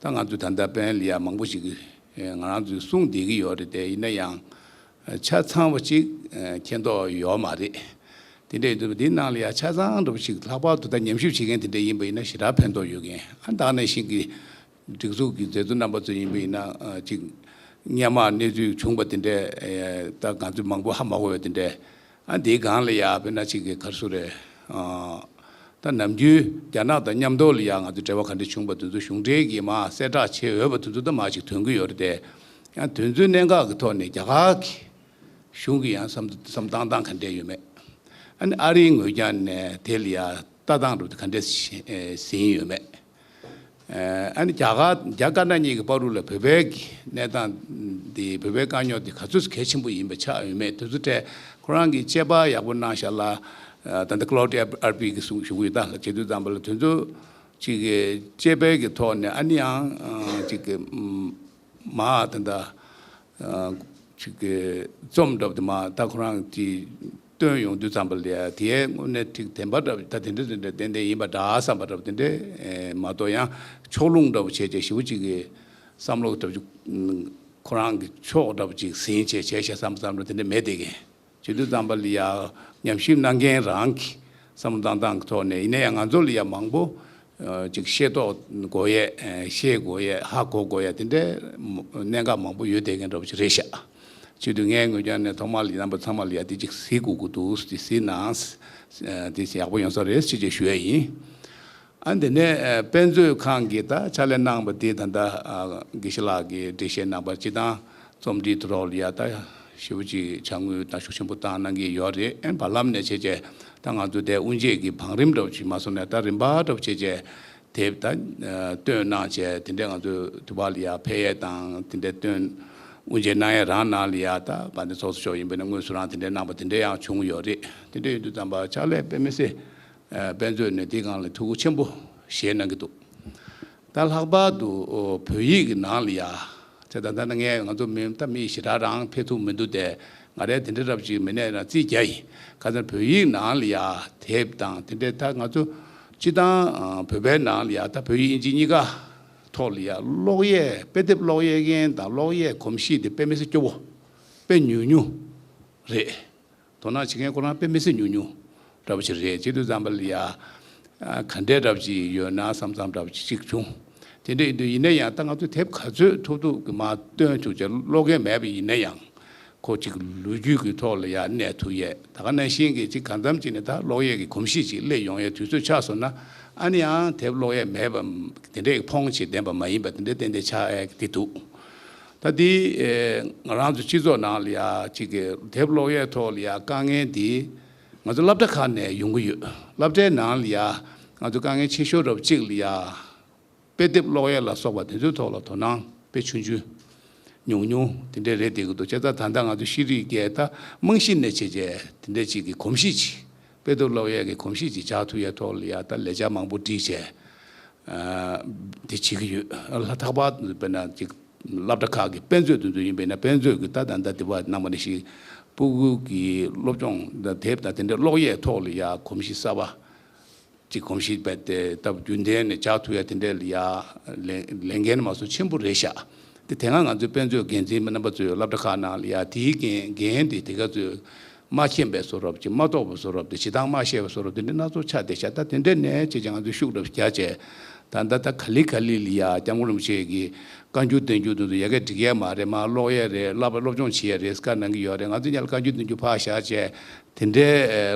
Speaker 4: ད་ང་ཚོས་ད་ལྟ་དཔལ་ལི་ཡ་མང་པོ་ཞིག་གིས་ང་རང་ཚོའི་གསུང་བསྡད་ཀྱི་ཡོད་རེད་དེ་ཡིན་ན་ཡང་ཆ་ཚང་བ་ཅིག་མཁྱེན་མདོག་ཡོད་མ་རེད། དེ་འདྲ་ཡོད་དུས་འདི་ནང་ལ་ཡང་ཆ་ཚང་འདྲ་བོ་ཞིག་ལྷག་པར་དུ་ད་ཉམས་ཞིབ་བྱེད་མཁན་དེ་འདྲ་ཡིན་པ་ཡིན་ན་ཞེ་དྲག་ཕན་ཐོགས་ཡོད་མཁན་ཨ་འདང་ནས་ཞིག་གིས་སྒྲིག་འཛུགས་ཀྱི་མཛད་གཙོ་རྣམ་པ་ཚོ་ཡིན་པ་ཡིན་ན་ཅིག། སྙན་མར་གནས་ཚུལ་བྱུང་བ་དེ་འདྲས་ད་ང་ཚོས་མང་པོ་ཧ་མ་གོ་བས་དེ་འདྲས་ཨ་འདིའི་སྒང་ལ་ཡག་བོད་ནག་གཅིག་གི་མཁར་ཟུར་རེད། ད་ནམ་རྒྱུན་རྒྱ་ནག་དང་མཉམ་འདོགས་ལ་ཡང་ང་ཚོས་འབྲེལ་བ་ག་འདྲ་བྱུང་བ་དེ་ཚོ་གཞུང་འབྲེལ་གྱིས་མ་གསལ་བསྒྲགས་བྱེད་འོས་པ་དེ་ཚོ་ད་མ་ཞིག་དོན་གྱི་ཡོད་རེད་དེ། ཡང་དོན་ཚུལ་གནད་འགག་གི་ཐོག་ནས་རྒྱ་གར་གྱི་གཞུང་གི་ཡང་བསམ་བཏང་སྟངས་ག་འདྲ་ཡོད་མེད། ཨ་ནི་ཨ་རིའི་ངོས་ཀྱང་ནས་དེ་ལ་ཡང་ལྟ་སྟངས་གྲུབ་ཏེ་ག་འདྲ་ཟིན་ཡོད་མེད། ཨ་ནི་རྒྱ་གར་རྒྱ་དཀར་ནག་གཉིས་ཀྱི་དཔའ་རུ་ལ་བོད་པའི་གནས་སྟངས་དེ་བོད་པའི་དཀའ་རྙོག་དེ་ག་ཚོད་གལ་ཆེན་པོ་ཡིན་པ་ཆ་འོས་མེད་དུ་ཚོད་ཕྲད་ཁོ་རང་གིས་དཔྱད་པ་ཡག་པོ་གནང་ཤག་ལ་ད་ལྟ Claudia Arpi གི་གཞུང་གི་ད་ལ་ཇེ་དུས་ཙམ་པ་ལ་དུས་ཚོད་ཅིག་དཔྱད་དཔལ་གྱི་ཐོག་ནས་ཨ་ནི་ཡང་ཅིག་མ་ད་ད་ཅིག་གི་རྩོམ་འདྲ་བོ་དེ་མ་ད་ཁོ་རང་གིས་བཏོན་ཡོང་དུས་ཙམ་པ་ལས་དེའི་དངོས་གནས་ཐིག་དེ་འབའ་འདྲ་བོ་ད་དེ་འདྲ་དེ་འདྲ་དེ་འདྲ་ཡིན་པ་འདྲ་བསམ་པ་འདྲ་བོ་དེ་འདྲ་མ་གཏོགས་ཡང་ཕྱོགས་ལྷུང་འདྲ་བོ་བྱས་བྱས་ཞེ་བོ་ཅིག་གིས་བསམ་བློ་འདྲ་བོ་ཅིག་ཁོ་རང་གི་ཕྱོགས་འདྲ་བོ་ཅིག་ཟིན་བྱས་བྱས་བྱས་བསམ་བསམ་འདྲ་བོ་དེ་འདྲ་མེད་དེ་གས། བྱེད་དུ་བརྩམས་པ་ལ་ཡང་ཉམས་ཞིབ་གནང་མཁན་རང་གི་བསམ་བློ་བཏང་སྟངས་ཀྱི་ཐོག་ནས་ཡིན་ན་ཡང་ང་ཚོ་ལ་ཡང་མང་པོ་ཅིག་ཤེས་རྟོགས་དགོས་ཡས་ཤེས་དགོས་ཡས་ཧ་གོ་དགོས་ཡས་དེ་འདྲའི་གནད་འགག་མང་པོ་ཡོད་བསྡད་མཁན་འདྲ་པོ་ཅིག་རེད་ཤག་ཆེད་དུ་ངའི་ངོས་ཀྱང་ནས་ཐོག་མར་ལ་ཡིན་རྣམ་པ་ཚང་མ་ལ་ཡང་དེ་ཅིག་གཟིགས་དགོས་ཀྱི་འདུག་དེ་གཟིགས་ན་དེ་ཡག་པོ་ཡོང་ས་རེད་ཅེས་ཞུ་ཡས་ཡིན། ཨ་འདི་ནས་དཔེ་མཛོད་ཁང་གི་ད་ཆ་ལས་གནང་བ་དེ་ད་ལྟ་དགེ་བཤེས་ལགས་ཀྱི་འགྲེལ་བཤད་གནང་པར་སྤྱི་དང་རྩོམ་འབྲི་དུ་རོགས་ལ་ཡ་ད་ཞུ་བ་ཅིག་བྱ་དངུལ་ད་ཤུགས་ཆེན་པོ་བཏང་གནང་གི་ཡོད་རེད་ཨེ་བར་ལམ་ནས་བྱས་རྗེས་ད་ང་ཚོ་དེ་དབུ་འབྱེད་ཀྱི་བང་རིམ་འདྲ་བོ་ཞིག་མ་སོང་ནས་ད་རིམ་པ་འདྲ་བོ་བྱས་རྗེས་དེབ་ད་བཏོན་གནང་བྱས་དེ་འདྲས་ང་ཚོ་དུ་བ་ལ་ཡ་ཕེ་ཡས་དང་དེ་འདྲས་བཏོན་དབུ་འབྱེད་གནང་ཡས་རང་གནང་ལ་ཡ་ད་བ་འདི་ཚོགས་སུ་ཤོག་ཡིན་པས་ན་དངོས་སུ་རང་དེ་འདྲས་གནང་བ་དེ་འདྲས་ཡང་བྱུང་ཡོད་རེད་དེ་འདྲས་ཡོད་དུ་ད་བ་ཆ་ལས་དཔེ་མི་སེ་དཔེ་མཛོད་ནས་འདི་གང་ལ་ཐུགས་ཁུར་ཆེན་པོ་བཞེས་གནང་གི་འདུག་ད་ལྷག་པར་དུ་བོད་ཡིག་གི་ནང་ལ་ཡ། ཚེ་ད་ལྟ་ནི་ངས་ང་ཚོ་མི་ད་མི་ཞེ་དྲག་རང་ཕེབས་ཐུབ་མི་འདུག་སྟེ་ང་རས་དེ་འདྲའི་རབ་ཅིག་མི་གནས་རང་རྩིས་རྒྱ་ཡིན་ཁ་ཚར་བོད་ཡིག་ནང་ལ་ཡ་དེབ་དང་དེ་འདྲའི་ད་ང་ཚོ་སྤྱི་དང་བོད་པའི་ནང་ལ་ཡ་ད་བོད་ཡིག་དབྱིན་ཇི་གཉིས་ཀ་ཐོག་ལ་ཡ་ཀློག་གཡས་དཔེ་དེབ་ཀློག་གཡས་མཁན་དང་ཀློག་གཡས་གོམས་གཤིས་དེ་དཔེ་མི་སེར་སྐྱོ་བོ་དཔེ་ཉུང་ཉུང་རེད། དོ་སྣང་བྱེད་མཁན་ཁོ་རང་དཔེ་མི་སྲིད་ཉུང་ཉུང་འདྲ་པོ་ཞིག་རེད་ཅིག་དུས་ཙམ་ལ་ཡ། ག་འདྲས་འདྲ་པོ་ཅིག་ཡོད་ན་བསམ་བསམ་འདྲ་པོ་ཅིག་ཅིག་བྱུང། དེ་འདྲས་ཡིན་དུས་ཡིན་ན་ཡང་ད་ང་ཚོས་དེབ་ག་ཚོད་ཐུག་ཐུག་གི་མ་སྟོན་ཆུག་ཅེས་ཀློག་མཁན་མེད་པ་ཡིན་ན་ཡང། ཁོ་གཅིག་ལོ་རྒྱུས་ཀྱི་ཐོག་ལ་ཡ་གནས་ཐུག་ཡས་ད་ག་ན་ཤིང་གི་ཅིག་གང་འཚམ་ཅིག་ནས་ད་ཀློག་ཡས་ཀྱི་གོམས་གཤིས་ཅིག་སླེབས་ཡོང་ཡས་དུས་ཚོད་ཆགས་སོང་ན་ཨ་ནི་ཡང་དེབ་ཀློག་ཡས་མེད་པ་དེ་འདྲས་ཀྱི་ཕོངས་ཆེ་ལྡན་པ་མ་ཡིན་པ་དེ་འདྲས་གཏན་གཏན་ཆགས་ཨས་ཀྱི་འདུག། ད་དེ་ང་རང་ཚོའི་སྤྱི་ཚོགས་ནང་ལ་ཡང་གཅིག་གི་དེབ་ཀློག་ཡས་ཐོག་ལ་ཡང་དཀའ་ངལ་འདི་ང་ཚོ་སླབ་གྲྭ་ཁག་ནས་ཡོང་གི་ཡོད་སླབ་གྲྭའི་ནང་ལ་ཡང་ང་ཚོ་དཀའ་ངལ་ཆེ་ཤོས་རབ་གཅིག་ལ་ཡང་དཔེ་དེབ་ཀློག་ཡས་ལ་སོགས་པ་དེ་ཚོའི་ཐོག་ལ་དོ་སྣང་དཔེ་ཆུང་ཆུང་ཉུང་ཉུང་དེ་འདྲས་རེད་དེ་གི་འདུག་བྱས་ཙང་ད་ལྟ་ང་ཚོ་ཤེས་རིག་རྒྱལ་དར་རྨང་གཞི་ནས་བྱས་རྗེས་དེ་འདྲས་གཅིག་གི་གོམས་གཤིས་གཅིག་དཔེ་སྡུར་སློབ་ཡོན་གྱི་གོམས་གཤིས་ཀྱི་ལྕགས་ཐུ་ཡ་ཐོག་ལ་ཡ་ད་ལས་བྱ་མང་པོ་བསྒྲིགས་བྱས་དེ་བྱེད་ཀྱི་ཡོད། ལྷ་ཐག་པ་དེ་དཔེར་ན་ཅིག་བསླབ་གྲྭ་ཁག་གི་དཔེ་མཛོད་དུ་འཛུལ་ཡིན་པས་ན་དཔེ་མཛོད་ཀྱི་ལྟ་དང་ལྟ་དེ་བ་གནང་བ་ནི་ཞིག་སྤུ་གུ་གྱི་སློབ་སྦྱོང་དེབ་དང་དེ་འདྲའི་ཀློག་ཡས་ཐོག་ལ་ཡ་གོམས་གཤིས་གསར་བ་ཅིག་གོམས་གཤིས་སྤེལ་ཏེ་ད་བར་རྒྱུན་ལྡན་ནས་ལྕགས་ཐུ་ཡ་དེ་འདྲའི་ལ་ཡ་ལས་འགན་མ་སོ་ཆེན་པོ་རེ་བཞག་སྟེ་དེ་སྔ་ང་ཚོའི་དཔེ་མཛོད་འགན་འཛིན་པ་རྣམ་པ་ཚོས་བསླབ་གྲྭ་ཁག་ནང་ལ་ཡ་དེའི་འགན་འགན་དེ་དེ་ག་ཚོད་མ་མཁྱེན་པའི་སོ་རབ་ཀྱིས་མ་རྟོགས་པའི་སོ་རབ་དང་ཞེ་སྡང་མ་ཤེས་པའི་སོ་རབ་དེ་འདྲ་སྣ་ཚོགས་ཆགས་ཏེ་ཤ་ད་དེ་འདྲའི་ནད་ཅེས་ཀྱང་ང་ཚོས་ཤུགས་རབ་རྒྱ་བཅད། ད་ད་ད་ག་ལི་ག་ལི་ལི་ཡ་སྐྱབས་མགོན་རིན་པོ་ཆེ་གིས་བཀའ་འགྱུར་བདེན་འགྱུར་དོན་དུ་ཡལ་གས་བསྒྲིགས་ཡས་མ་རེད་མ་ཀློག་ཡས་རེད་བསླབ་པ་སློབ་སྦྱོང་བྱེད་ཡས་རེད་སྐར་ནང་གི་ཡོད་རེད་ང་ཚོས་ཉལ་བཀའ་འགྱུར་བདེན་འགྱུར་ཕག་ཞག་བཅས་དེ་འདྲའི་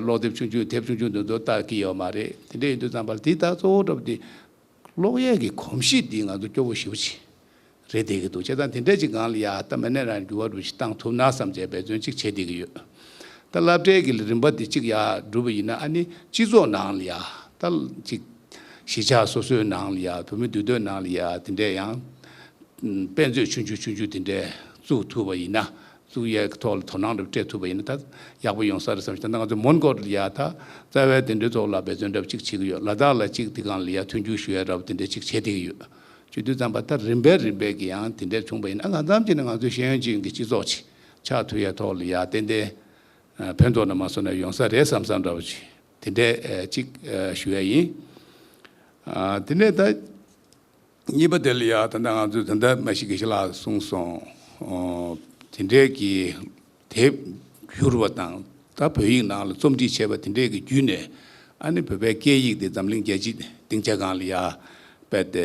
Speaker 4: ཀློག་དེབ་ཆུང་ཆུང་དེབ་ཆུང་ཆུང་དོན་དུ་བལྟ་གི་ཡོད་མ་རེད་དེ་འདྲས་ཡིན་དུས་ཙམ་པར་དེའི་རྟགས་གཙོ་བོ་རབ་དེ། གློག་གཡས་ཀྱི་གོམས་གཤིས་འདིས་ང་ཚོ་སྐྱོ་བོ་ཞི་བོ་ཆེ་རེ་བསྡད་ཀྱི་འདུག་བྱས་ཙང་དེ་འདྲས་ཅིག་གང་ལ་ཡག་སྟབས་མི་ནས་རང་གི་འགྱུར་བ་འགྲོ་གཞི་གཏང་ཐུབ་ན་བསམ་བྱས་འབད་བརྩོན་ཅིག་བྱས་བསྡད་ཀྱི་ཡོད། ད་བསླབ་གྲྭའི་གི་རིམ་པ་འདི་ཅིག་ཡག་འགྲུབ་པ་ཡིན་ན་ཨ་ནི་སྤྱི་ཚོགས་ནང་ལ་ཡག་ད་ཅིག་གཞིས་ཆགས་སོ་སོའི་ནང་ལ་ཡག་བོད་མི་འདུས་སྡོད་ནང་ལ་ཡག་དེ་འདྲས་ཡང་དཔེ་མཛོད་ཆུང་ཆུང་ཆུང་ཆུང་དེ་འདྲས་བཙུགས་ཐུབ་པ་ཡིན་ན་བཙུགས་ཡས་ཀྱི་ཐོག་ལ་དོ་སྣང་རེ་སྤྲད་ཐུབ་པ་ཡིན་ན་ད་ཡག་པོ་ཡོང་ས་རེད་བསམ་ཞིང་ད་ནང་ང་ཚོས་མོན་གྷོ་ལི་ཡ་དང་རྩ་བའི་དེ་འབྲེལ་ཐོག་ལ་འབད་བརྩོན་འདྲ་བོ་གཅིག་བྱེད་ཀྱི་ཡོད་ལ་དྭགས་ལ་གཅིག་དེ་གང་ལི་ཡ་མཐུན་འགྱུར་ཞུ་ཡ་འདྲ་བོ་དེ་འདྲ་གཅིག་བྱེད་བསྡད་ཀྱི་ཡོད། བཅུ་དུས་བརྩམས་པ་ལྟར་རིམ་པས་རིམ་པས་ཀྱི་ཡང་དེ་འདྲས་བྱུང་བ་ཡིན་ན་ང་ཙམ་གྱིས་ནི་ང་ཚོའི་ཤེས་ཡོན་ཅན་གྱི་སྤྱི་ཚོགས་ཆེད་ཆགས་ཐུབ་ཡས་ཐོག་ལི་ཡ་ཏན་ཏན་ཕན་ཐོགས་ནས་མ་སོང་ན་ཡོང་ས་རེད་བསམ་ས་འདྲ་བོ་བྱེད་དེ་འདྲས་གཅིག་ཞུ་ཡ་ཡིན། དེ་ནས་ད། གཉིས་པ་དེ་ལ་ཡང་ད་ལྟ་ང་ཚོས་དེ་འདྲ་མ་ཤི་གི་ཤི་ལ་གསུངས་སོང། དེ་འདྲའི་གི་དེབ་བསྒྱུར་བ་དང་ད་བོད་ཡིག་ནང་ལ་རྩོམ་སྒྲིག་བྱས་པ་དེ་འདྲའི་གི་བརྒྱུད་ནས་ཨ་ནི་བོད་པའི་སྐད་ཡིག་དེ་འཛམ་གླིང་རྒྱལ་སྤྱིའི་སྡིངས་ཆ་གང་ལ་ཡང་སྤེལ་ཏེ་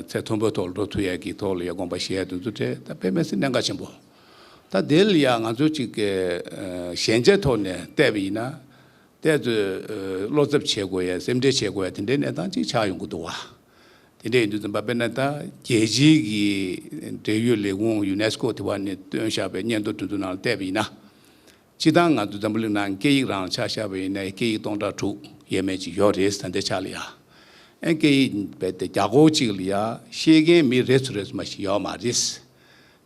Speaker 4: ཚད་མཐོན་པོའི་ཐོག་ལ་འགྲོ་ཐུབ་ཡས་ཀྱི་ཐོག་ལ་ཡང་དགོངས་པ་བཞེས་དོན་དུ་འབྲེལ་ད་དཔེ་མེད་ཚེ་གནད་འགག་ཆེན་པོ། ད་དེ་ལ་ཡང་ང་ཚོས་ཅིག་ཞན་ཆའི་ཐོག་ནས་བལྟས་པ་ཡིན་ན། བལྟས་ཚོས་བློ་འཚབ་བྱེད་དགོས་ཡས་སེམས་ཁྲལ་བྱེད་དགོས་ཡས་དེ་འདྲའི་གནས་སྟངས་ཅིག་ཆགས་ཡོང་གི་འདུག་བ། དེ་འདྲའི་ཡུལ་དུ་འཛིན་པ་དཔེར་ན་ད་རྒྱལ་སྤྱིའི་གི་འབྲེལ་ཡོད་ལས་ཁུངས Unesco དེ་བ་ནས་བཏོན་བཞག་པའི་སྙན་ཐོ་གྲོས་བསྡུར་ནང་བལྟས་པ་ཡིན་ན། སྤྱི་དང་ང་དུ་འཛམ་བུ་གླིང་ནང་སྐད་ཡིག་རང་ཆགས་ཤར་བ་ཡིན་ན་སྐད་ཡིག་སྟོང་ཕྲག་དྲུག་ཡས་མས་ཅིག་ཡོད་རེད་ཟེར་ན་འདི་ཆ་ལ་ཡ། ཨེ་སྐད་ཡིག་རྦད་དེ་བརྒྱ་སྐོར་ཅིག་ལ་ཡ་ཤེས་མཁན་མི་རེ་ཚོ་རེ་ཚོ་མ་ཞིག་ཡོད་མ་རེད།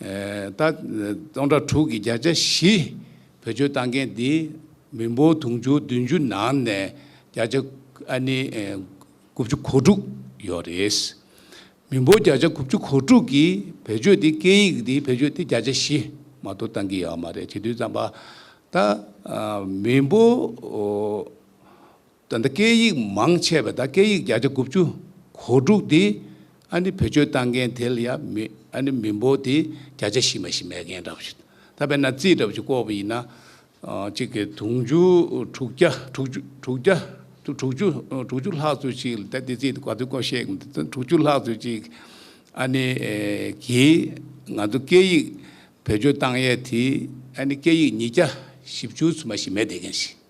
Speaker 4: ད། སྟོང་ཕྲག་དྲུག་གི་བརྒྱ་ཆ་བཞི་བོད་ཆོལ་གཏང་མཁན་འདི་མི་འབོར་དུང་ཕྱུར་བདུན་ཅུ་ནང་ནས་བརྒྱ་ཆ་ཨ་ནི་དགུ་བཅུ་གོ་དྲུག་ཡོད་རེད། མི་འབོར་བརྒྱ་ཆ་དགུ་བཅུ་གོ་དྲུག་གིས་བོད་ཆོལ་འདི་སྐད་ཡིག་འདི་བོད་ཆོལ་འདི་བརྒྱ་ཆ་བཞི་མ་གཏོགས་གཏང་གི་ཡོད་མ་རེད་བྱེད་དུས་བརྩམས་པ། ད། མི་འབོར། ད་ལྟ་སྐད་ཡིག་མང་ཆེ་བས་ད་སྐད་ཡིག་བརྒྱ་ཆ་དགུ་བཅུ་གོ་དྲུག་དེ་ཨ་ནི་བེད་སྤྱོད་བཏང་མཁན་དེ་ལ་ཡ་མི་ཨ་ནི་མི་འབོར་དེ་བརྒྱ་ཆ་བཞི་མ་ཞིག་མེད་མཁན་འདྲ་བོ་ཞིག་ད་བས་ན་རྩིས་འདྲ་བོ་ཞིག་བཀོག་པ་ཡིན་ན། གཅིག་གིས་དུང་ཕྱུར་དྲུག་བརྒྱ་དྲུག་ཅུ་དྲུག་བརྒྱ་དྲུག་ཅུ་དྲུག་ཅུ་ལྷག་ཚོད་ཅིག་ལ་ད་དེ་རྩིས་ག་དུས་བཀོག་ཤེས་གི་མི་འདུག་དྲུག་ཅུ་ལྷག་ཚོད་ཅིག་ཨ་ནི་གིས་ང་ཚོ་སྐད་ཡིག་བེད་སྤྱོད་བཏང་ཡས་དེ་ཨ་ནི་སྐད་ཡིག་ཉིས་བརྒྱ་བཞི་བཅུ་ཚོད་མ་ཞིག་མེད་བསྡད་མཁན་ཞིག།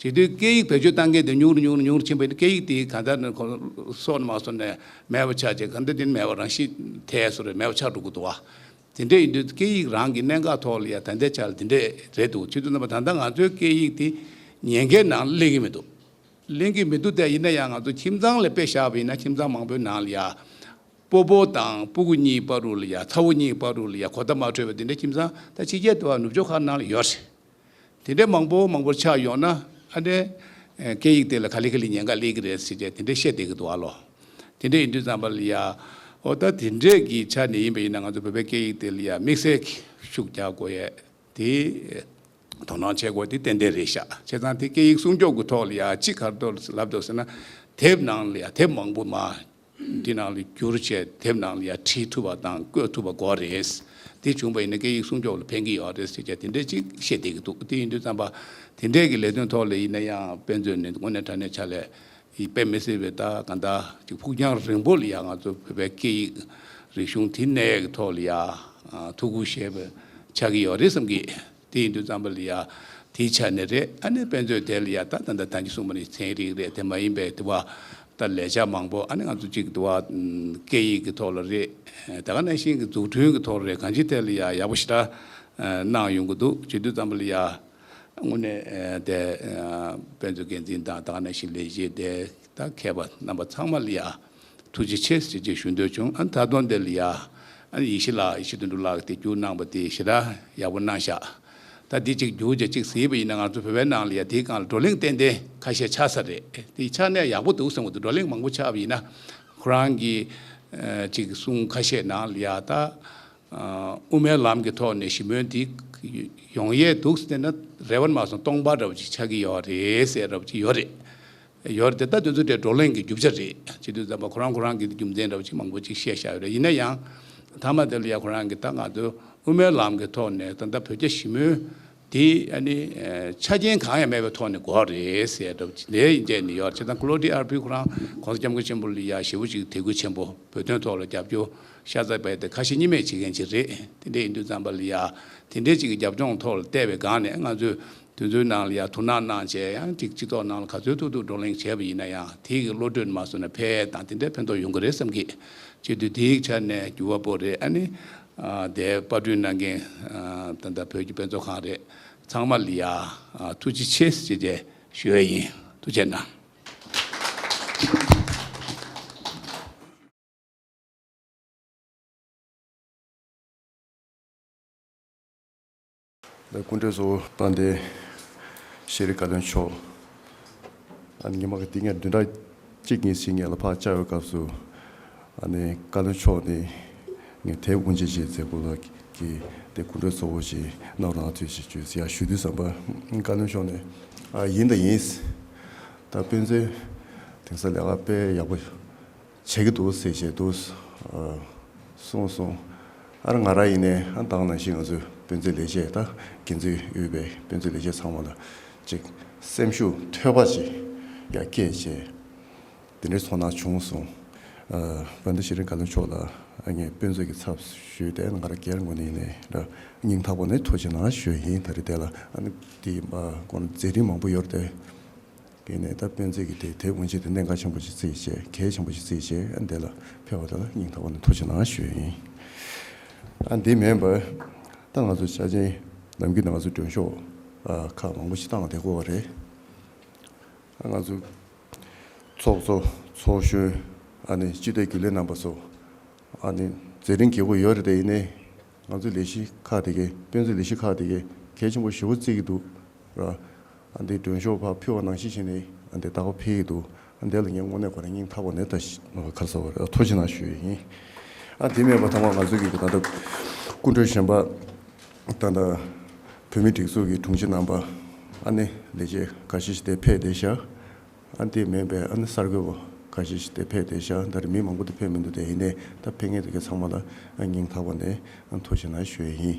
Speaker 4: བྱེད་དུས་སྐད་ཡིག་བེད་སྤྱོད་གཏང་མཁན་དེ་ཉུང་རུ་ཉུང་རུ་ཉུང་རུ་ཕྱིན་པས་སྐད་ཡིག་དེ་གང་ལྟར་ནས་ཁོང་སྲོག་ནས་མ་སོར་ནས་མེད་པར་ཆགས་ཅིང་གང་འདོད་དེ་ནི་མེད་པར་རང་ཤི་ཐལ་སོ་རེ་མེད་པར་ཆགས་འགྲོ་གི་འདུག་བ། དེ་འདྲས་ཡིན་དུས་སྐད་ཡིག་རང་གི་གནད་འགག་ཐོག་ལ་ཡང་ད་ལྟའི་ཆར་དེ་འདྲས་རེད་འདུག་ཕྱི་དྲོ་རྣམ་པ་ད་ལྟ་ང་ཚོའི་སྐད་ཡིག་དེ་ཉེན་ཁའི་ནང་གླེང་གི་མི་འདུག་གླེང་གི་མི་འདུག་དེ་ཡིན་ན་ཡང་ང་ཚོ་ཁྱིམ་ཚང་ལས་དཔེ་བཞག་པ་ཡིན་ན་ཁྱིམ་ཚང་མང་པོའི་ནང་ལ་ཡང། སྤོ་པོ་དང་སྤོ་གུ་གཉིས་སྤ་རུ་ལ་ཡང་ཚ་བོ་གཉིས་སྤ་རུ་ལ་ཡང་གོ་བརྡ་མ་འཕྲོད་པའི་དེ་འདྲས་ཁྱིམ་ཚང་ད་ཕྱི་རྒྱལ་དུ་བ་ནུབ་ཕྱོགས་ཁག་ནང་ལ་ཡོད་རེད། དེ་འདྲའི་མང་པོ་མང་པོ་ཆགས་ཡོང་ན་ཨ་འདྲའི་སྐད་ཡིག་དེ་ལ་ག་ལི་ག་ལི་ཉན་ག་ལི་གི་རེད་ཟེར་ཏེ་དེ་འདྲའི་བཤད་བསྡད་ཀི་འདུག་ཨ་ལོ། དེ་འདྲའི་ཡིན་དུས་ཙམ་པ་ལ་ཡ། འོ་ད་དེ་འདྲས་ཀྱི་ཆ་ནས་ཡིན་པ་ཡིན་ན་ང་ཚོ་བོད་པའི་སྐད་ཡིག་དེ་ལ་ཡ་དམིགས་བསལ་གྱི་ཤུགས་རྒྱག་དགོས་ཡས་དེ། དོ་སྣང་བྱེད་དགོས་དེ་ཏན་ཏན་རེད་ཤག་བྱས་ཙང་དེ་སྐད་ཡིག་སྲུང་སྐྱོབ་ཀྱི་ཐོག་ལ་ཡ་ཅི་ག་རེ་ལབ་འདུག་ཟེར་ན། དེབ་ནང་ལ་ཡ་དེབ་མང་པོ་མ་འདི་ནང་ལ་བསྒྱུར་བཅས་དེབ་ནང་ལ་ཡང་བྲིས་ཐུབ་པ་དང་བཀོད་ཐུབ་པ་གོ་རེད། དེ་བྱུང་བ་ཡིན་ན་སྐད་ཡིག་སྲུང་སྐྱོབ་ལ་ཕན་གྱི་ཡོད་རེད་ཟེར་བྱ་དེ་འདྲས་ཅིག་བཤད་བསྡད་ཀྱི་འདུག་དེ་ཡིན་དུས་རྩམ་པ་དེ་འདྲས་ཀྱི་ལས་དོན་ཐོག་ལ་ཡིན་ན་ཡང་དཔེ་མཛོད་ནི་དངོས་གནས་དྲ་གནས་ཆ་ལས་དཔེ་མི་སྲིད་པའི་ཐ་ག་འདྲ་ཅིག་ཕུགས་རྒྱང་རིང་པོ་ལ་ཡང་ང་ཚོ་བོད་པའི་སྐད་ཡིག་རིག་གཞུང་དེ་གནས་ཀྱི་ཐོག་ལ་ཡང་ཐུགས་ཁུར་བཞེས་པ་ཆགས་ཀྱི་ཡོད་རེད་བསམ་གྱི། དེ་ཡིན་དུས་ཙམ་པ་ལ་ཡང་དེའི་ཆ་ནས་རེད་ཨ་ནེ་དཔེ་མཛོད་དེ་ལ་ཡང་ད་ད་ད་ད་གྱི་གསུངས་པ་ནི་ཚན་རིག་རེད་དེ་མ་ཡིན་པའི་དུ་བ་ལྟར་ལས་བྱ་མང་པོ་ཨ་ནེ་ང་ཚོ་གཅིག་དུ་བ་སྐད་ཡིག་གི་ཐོག་ལ་རེད་ད་ག་ནས་ཤིང་གི་འཛུགས་སྐྲུན་གྱི་ཐོག་ལ་རེད་གང་ཅིའི་ཐད་ལ་ཡང་ཡག་པོ་ཞེ་དྲག་གནང་ཡོང་གི་འདུག་བྱེད་དུས་ཙམ་པ་ལ་ཡང་དངོས་གནས་དེ་དཔེ་མཛོད་འགན་འཛིན་དང་ད་ག་ནས་ཤིང་ལས་བྱེད་དེ་ད་མཁས་པ་རྣམ་པ་ཚང་མ་ལ་ཡང། ཐུགས་རྗེ་ཆེ་ཞེས་རྗེས་ཞུ་འདོད་བྱུང་ཨ་ད་དུང་འདི་ལ་ཡ་ཨ་ཡེ་ཤེས་ལགས་ཡེ་ཤེས་དོན་འགྲུབ་ལགས་ཀྱི་བརྒྱུད་གནང་བ་དེ་ཞེ་དྲག་ཡག་པོ་གནང་ཤག་ད་འདི་གཅིག་བརྒྱུད་རྗེས་གཅིག་ཟེར་བ་ཡིན་ན་ང་ཚོ་བོད་པའི་ནང་ལ་ཡ་དེའི་སྒང་ལ་བགྲོ་གླེང་ཏན་ཏན་ཁ་ཤས་ཆགས་ས་རེད་དེ་ཆགས་ནས་ཡག་པོ་འདུག་གསུངས་བ་དེ་བགྲོ་གླེང་མང་པོ་ཆགས་པ་ཡིན་ན་ཁོ་རང་གི་གཅིག་གསུང་ཁ་ཤས་ནང་ལ་ཡ་ད་དབུ་མའི་ལམ་གྱི་ཐོག་ནས་ཞི་མོལ་འདི་ཡོང་ཡས་འདུག་ཟེར་ན་རེ་བ་ནས་མ་སོང་སྟོང་པ་འདྲ་བོ་ཅིག་ཆགས་ཀྱི་ཡོད་རེད་ཟེར་རབས་ཀྱི་ཡོད་རེད་ཡོད་རེད་དེ་ལྟ་དོན་ཚོ་དེ་བགྲོ་གླེང་གི་རྒྱུ་ཆ་རེད་སྤྱི་འཐུས་ཚང་མ་ཁོ་རང་ཁོ་རང་གི་རྒྱུ་མཚན་འདྲ་བོ་ཅིག་མང་པོ་ཅིག་བཤད་བཞག་ཡོད་རེད་ཡིན་ན་ཡང། མཐའ་མ་དེ་ལ་ཡང་ཁོ་རང་གི་ད་ང་ཚོ་དབུ་མའི་ལམ་གི་ཐོག་ནས་ད་ལྟ་བོད་རྒྱ་ཞི་མོལ་དེ་ཡ་ནི་ཆ་རྐྱེན་གང་ཡང་མེད་པའི་ཐོག་ནས་འགོག་རེད་ཟེར་འདྲ་བོ་ཅིག་དེ་ཡིན་རྒྱ་ནི་ཡོད་རེད་བྱས་ཙང་ཀློ་ཀྲི་ཨར་པི་ཁོ་རང་གོང་ས་སྐྱབས་མགོན་ཆེན་པོ་ལ་ཡག་ཞེ་བོ་ཅིག་དད་གུས་ཆེན་པོ་བོད་དོན་ཐོག་ལ་རྒྱབ་སྐྱོར་ཤ་ཚ་བས་དེ་ཁ་ཞེ་གཉིས་མེད་བྱེད་མཁན་ཅིག་རེད་དེ་འདྲས་ཡིན་དུས་ཙང་པ་ལ་ཡག་དེ་འདྲས་ཅིག་གི་རྒྱབ་ལྗོངས་ཐོག་ལ་བལྟས་པའི་སྒང་ནས་ང་ཚོས། དུས་ཚོད་ནང་ལ་ཡང་ཐུགས་སྣང་གནང་བྱས་ཡང་ཅིག་སྤྱི་ཚོགས་ནང་ལ་ག་ཚོད་ཐུག་ཐུག་བགྲོ་གླེང་བྱས་པ་ཡིན་ན་ཡང་དེ་གི་བློ་གྲོས་མ་སོང་ན་ཕལ་དང་དེ་འདྲའི་ཕན་ཐོག་ཡོང་གི་རེད་བསམ་གི། བྱེས་དུས་དེའི་ཆ་ནས་འགྱུར་བ་པོ་རེད་ཨ་ནི། དེའི་དཔར་བསྐྲུན་གནང་མཁན་ད་ལྟ་བོད་ཀྱི་དཔེ་ཚོགས་ཁང་རེད་ཚང་མ་ལ་ཡང་ཐུགས་རྗེ་ཆེ་ཞེས་བཅས་ཞུ་ཡས་ཡིན་ཐུགས་ཆེ་གནང།
Speaker 5: ལས་ཀུན་གྲོལ་གཙོ་བོ་དཔལ་ལྡན་ཤེས་རིག་བཀའ་བློན་མཆོག་ཉི་མ་འདི་ངས་བདུན་ཕྲག་གཅིག་གཉིས་ཕྱིན་ངས་ལ་ཕག་བཅར་བའི་སྐབས་སུ། བཀའ་བློན་མཆོག་ནི་ངས་དེབ་དབུ་འབྱེད་བྱེད་མཛད་སྐོར་ལ་གི་ལས་ཀུན་གྲོལ་གཙོ་བོ་ཞིག་གནང་རོགས་གནང་ཐུགས་རྗེ་ཆེ་ཞེས་ཞུ་དུས་བསམ་པ་བཀའ་བློན་མཆོག་ནས་ཨ་ཡིན་ད་ཡིན། ད་དཔེ་མཛོད་དེང་སང་ལས་ཀ་དཔེ་ཡག་པོ། བྱེད་ཀྱི་འདུག་ཟེར་བཞིན་དུ་སོང་སོང། ཨར་ང་ར་ཡིན་ནའི་ཨ་འདང་ནང་བཞིན་ང་ཚོའི་དཔོན་ཚོའི་ལས་བྱེད་དང་འགན་འཛིན་དབུས་པའི་དཔོན་ཚོའི་ལས་བྱེད་ཚང་མ་ལ་ཅིག་སེམས་ཤུགས་ཐོལ་བ་ཅིག་ཡར་སྐྱེད་བྱས། དེ་འདྲའི་ཚོར་སྣང་བྱུང་སོང། བན་དུ་ཤེས་རིག་བཀའ་བློན་མཆོག་ལ་ངས་དཔོན་ཚོས་ཀྱི་ཚབ་ཞུས་ཏེ་ང་ར་གེར་ངོ་ནས་ཡིན་ནའི་སྙིང་ཐག་པོ་ནས་ཐུགས་ཆེ་ན་ཞོལ་ཡིན་ད་རེས་བསྡད་ལ། དེའི་སྐོར་མཛད་རིན་མང་པོ་ཡོད་རེད། གྱི་ནས་ད་སྤེན་ཚེ་གྱི་དེ་དེ་དབུ་འབྱེད་དེ་གནད་འགག་ཆེན་པོ་ཞིག་བརྩི་བྱས་གལ་ཆེན་པོ་ཞིག་བརྩི་བྱས་ཨ་འདི་ལ་ཕེབས་པ་དང་ན་སྙིང་ཐག་པ་ནས་ཐུགས་ཆེ་ནང་ཞོལ་ཡིན་ཨ་འདི་མེད་པར་ད་ང་ཚོ་བྱ་ཆེན་ནམ་གྱི་ནང་ང་ཚོ་མགྲོན་ཤོག་ཁག་མང་པོ་ཞིག་བཏང་བདེ་གོ་བ་རེད་ཨ་ང་ཚོ་ཚོགས་གཙོ་ཚོགས་གཞོན་ཨ་ནི་སྤྱི་བདེ་རྒྱུ་ལས་རྣམ་པ་ཚོ་ཨ་ནི་ཛེ་རིང་གི་བུ་ཡོད་རེད་དེ་ཡིན་ནའི་ང་ཚོའི་ལས་གཞི་ཁག་དེ་གའི་དཔེ་མཛོད་ལས་གཞི་ཁག་དེ་གའི་གལ་ཆེན་པོ་ཞེ་བོ་བརྩིས་ཀྱི་འདུག་ར། འདི་མགྲོན་ཤོག་ཕ་ཕུལ་བ་ནང་བཞིན་བཞིན་ནས་བདག་པོ་འཕེལ་གྱི་འདུག་དེ་ལ་ངས་དངོས་གནས་ཁོ་རང་སྙིང་ཐག་པ་ནས་ད་ཞིག་ཁ་གསལ་བར་ཐུགས་ཆེ་ན་ཞུ་ཡི་ཡིན། དེ་མེད་པ་ཐོག་མར་ང་ཚོའི་གི་ད་ལྟ་སྐུ་མགྲོན་གཞན་པ་དང་ད་བོད་མིའི་སྒྲིག་འཛུགས་ཀྱི་དྲུང་ཆེ་རྣམ་པ་ཨ་ནེ་ལས་བྱེད་འགའ་ཤས་ཤིག་དེ་ཕེད་བསྡད་ཤག་ཨ་འདི་མེད་པས་ཨ་ནི་གསར་འགོད་པོ་ཁ་ཤས་ཤིག་དེ་ཕེབས་ཏེ་ཤ་ཟླ་རི་མི་མང་པོ་དེ་ཕེབས་མི་འདུག་དེ་ཡིན་ནའི་ད་ཕེབས་མཁན་དེ་གའི་ཚང་མ་ལ་ཨ་སྙིང་ཐག་པ་ནས་ཨ་མཐོ་ཞེ་ན་ཞོའི་ཡིན།